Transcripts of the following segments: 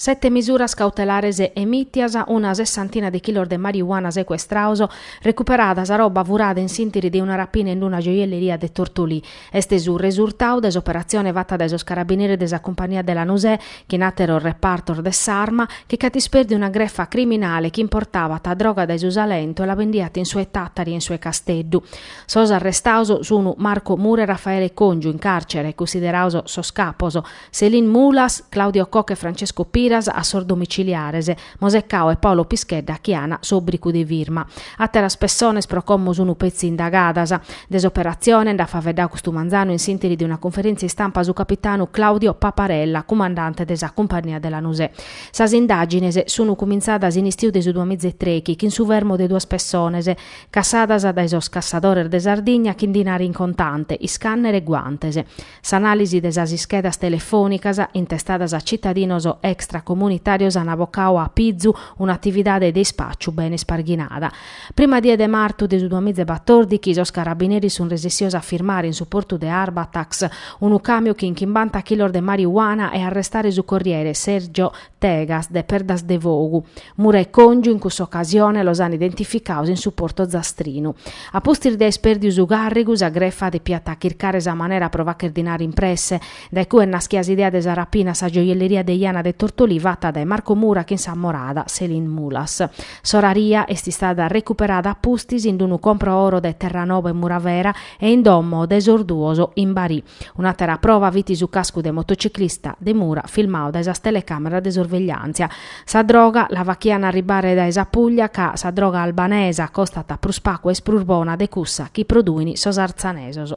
Sete misuras cautelares emìtias, una sessantina de chilos de marijuana secuestrados, recuperada sa roba furada in s'ìntiri de una rapina in una gioielleria de Tortolì. Est su resurtadu de s'operatzione fata dae sos carabineris de sa cumpagnia de Lanusè chin àteros repartos de s'Arma, chi ch'at ispèrdiu una grefa criminale chi importabat droga dae su Salentu e la bendiat in su 'e Tàtari e in su 'e Casteddu. Sos arrestados sun Marco Mura e Raffaele Congiu, in càrcere, cussiderados sos capos, Céline Mulas, Claudio Koch e Francesco Piras a sos domiciliares, Mosè Cao e Paolo Pischedda chi ana s'obbricu de firma. Àteras pessones pro como sunu petzi indagadas. De s'operatzione nd'at faveddadu custu manzanu in s'ìntiri de una conferèntzia istampa su capitanu Claudio Paparella, cumandante de sa Cumpagnia de Lanusè. Sas indàgines sunu cumintzadas in istiu de su duamìa e trechi chin su fermo de duas pessones cassadas dae sos cassadores de Sardigna chin dinare in contante, iscànnere e guantes. S'anàlisi de sas ischedas telefònicas intestadas a citadinos extracomunitàrios an abocadu a apizu un'atividade de ispàciu bene isparghinada. Prima die de martu de su duamìa e batòrdighi sos carabineris sunt resessios a firmare in su portu de Arbatax unu càmiu chin chimbanta chilos de marijuana e arrestare su corriere Sergio Tegas de Perdasdefogu. Mura e Còngiu in cussa ocasione los an identificados in su portu zastrinu. A pustis de aer pèrdiu su càrrigu, sa grefa depiat chircare sa manera pro fagher dinare in presse. Dae cue est naschida s'idea de sa rapina a sa gioielleria de Jana de Tortolì fata dae Marco Mura chin sa morada Céline Mulas. S'oraria est istada recuperada a pustis in unu compro oro de Terranova e Muravera e in domo de sos duos in Barì. Un'àtera prova fit su cascu de motociclista de Mura filmadu dae sas telecàmeras de sorvegliàntzia. Sa droga la faghiant arribare dae sa Puglia ca sa droga albanesa costat prus pagu e est prus bona de cussa chi produin sos artzanesos.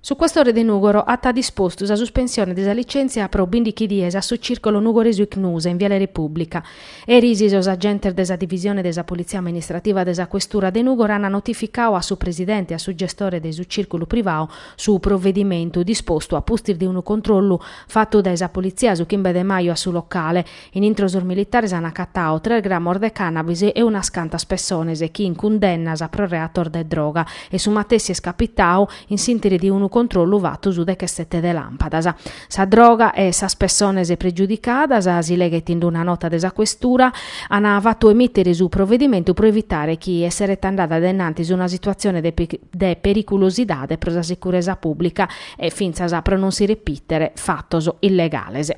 Su questore de Nùgoro at dispostu sa suspensione de sa licèntzia pro bindighi dies a su Cìrcolo Nugoresu Icnusa in Viale Repùblica. Eris sos agentes de sa divisione de sa politzia amministrativa de sa questura de Nùgoro ant notificadu a su presidente e a su gestore de su cìrculu privadu su provedimentu, dispostu a pustis de unu controllu fatu dae sa politzia su chimbe de maju a su locale. In intro sos militares an acatadu tres gramos de cannabis e unas cantas pessones chin cundennas pro reatos de droga e su matessi est capitadu in s'intiri de unu controllu fatu su dechesete de lampadas. Sa droga e sas pessones pregiudicadas, si leghet in una nota de sa Questura, an fatu emittere su provedimentu pro evitare chi esseret andada de innantis una situatzione de periculosidade pro sa sicuresa pubblica e fintzas pro non si repitere fatos illegales.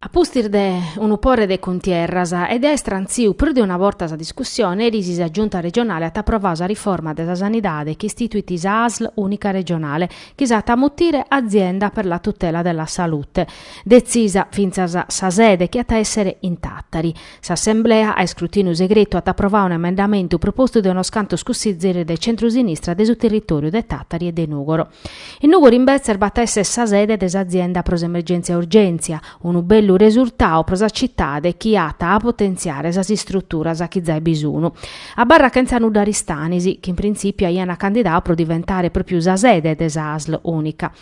A pustis de unu pore de cuntierras e de àere istrantziu prus de una borta sa discussione, eris sa Giunta regionale at aprovadu sa riforma de sa sanidade chi istituit sa Asl unica regionale, chi s'at a mutire Azienda per la tutela della salute, detzisa fintzas sa sede chi at a èssere in Tàtari. S'assemblea, a iscrutìniu segretu, at aprovau un'emendamentu propostu de unos cantos cussizieris de centrusinistra de su territòriu de Tàtari e de Nùgoro. In Nùgoro imbetzes b'at a èssere sa sede de s'Azienda pro s'Emergèntzia Urgèntzia, unu bellu resurtau pro sa citade chi at a potentziare sas istruturas chi zai bi sun, abarrat chene nudda Aristanis, chi in printzìpiu aiana candidau pro diventare pròpiu sa sede de sa Asl Unica.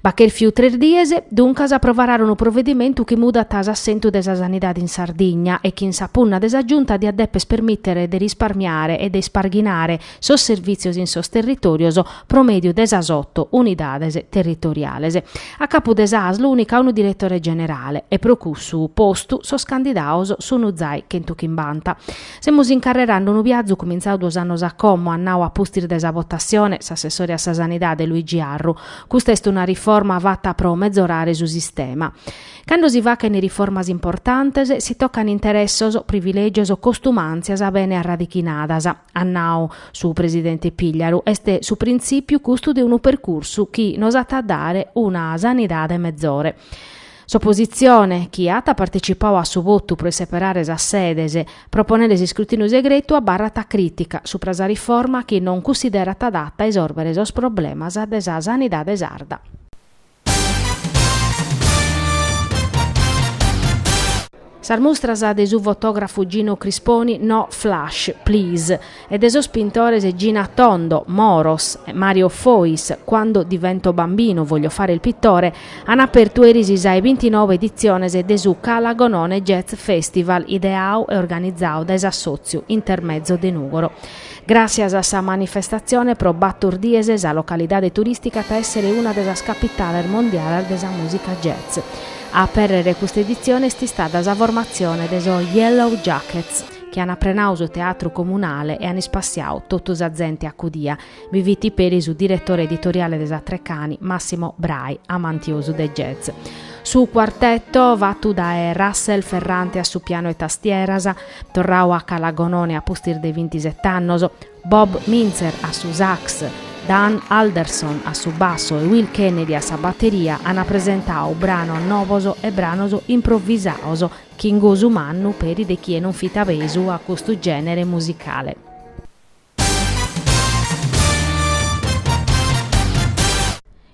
B'at chèrfiu tres dies, duncas a aprovare unu provedimentu chi mudat s'assentu de sa sanidade in Sardigna e chi in sa punna de sa Giunta diat dèpere permìtere de risparmiare e de isparghinare sos servìtzios in sos territòrios pro mèdiu de sas oto unidades territoriales. A capu de sa Asl ùnica unu diretore generale e pro cussu postu sos candidaos sun zai chentu chimbanta. Semus incarrerande unu biazu cumintzau duos annos a como at nau a pustis de sa votassione s'assessore a sa sanidade Luigi Arru, Custa est una riforma fata pro mezorare su sistema. Cando si fachent riformas importantes, si tocant interessos, privilègios, costumàntzias bene arradichinadas, at nau su presidente Pigliaru, est su printzìpiu custu de unu percursu chi nos at a dare una sanidade mezore. S'opositzione, chi at partecipau a su votu pro isseperare sas sedes, proponende s'iscrutìniu segretu, abarrat crìtica supra sa riforma chi non cussiderat adata a isòrbere sos problemas de sa sanidade sarda. Sas mustras de su fotògrafu Gino Crisponi, No Flash, Please, e de sos pintores Gina Tondo, Moros, e Mario Fois, Quando divento bambino voglio fare il pittore, an apertu eris sa 'e bintinobe editzione de su Calagonone Jazz Festival ideau e organizau dae s'assòtziu Intermezzo de Nùgoro. Gràssias a sa manifestatzione pro bator dies sa localidade turìstica at a èssere una de sas capitales mondiales de sa mùsica jazz. A apèrrere custa editzione est istada sa formatzione de sos Yellow Jackets, chi an aprenau su teatru comunale e an ispassiadu totu sa zente acudia, bi fit peri su diretore editoriale de sa Treccani, Massimo Bray, amantiosu de jazz. Su cuartetu, fatu dae Russell Ferrante a su pianu e tastieras, Torrau a Calagonone a pustis de bintiset'annos, Bob Mintzer a su sax, Dane Alderson a su bassu e Will Kennedy a sa bateria an presentau branos novos e branos improvisados chin gosu mannu peri de chie non fit abesu a custu gènere musicale.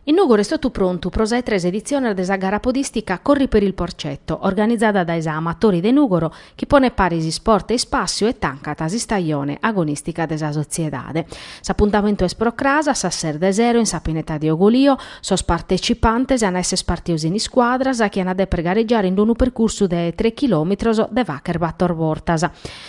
In Nugoru est totu prontu pro sa 'e tres editziones de sa gara podìstica Corri per il Porcetto, organizada dae sa Amatori de Nùgoro, chi ponet paris isport e ispàssiu e tancat s'istajone agonìstica de sa sotziedade. S'apuntamentu est pro cras a sas ses de sero in sa pineta de Ugolio. Sos partecipantes an a èssere ispartidos in iscuadras chi an a dèpere garegiare in unu percursu de tres chilòmetros de facher bator bortas.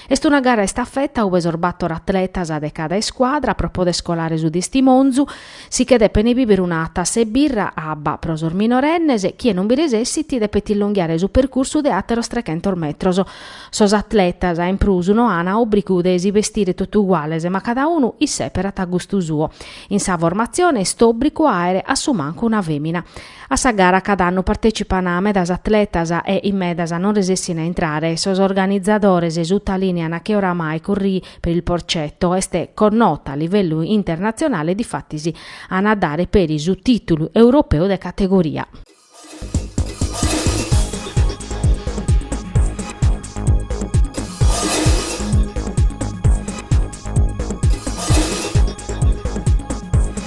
Est una gara a istafeta ue sos bator atletas de cada iscuadra, pro poder scolare su tistimonzu, si che depent biber una tassa 'e birra abba pro sos minorennes, chie non bi resessit depet illonghiare su percursu de àteros trechentos metros. Sos atletas, in prus, no ana òbrigu de si bestire totu uguales, ma cada unu isseperat a gustu suo. In sa formatzione est òbrigu àere a su mancu una fèmina. A sa gara cada annu partecipana medas atletas e in medas non resessin a intrare, sos organizadores sutalìneana che oramai Corri per il Porcetto est connota a livellu internatzionale difatis an a dare peri su tìtulu europeu de categoria.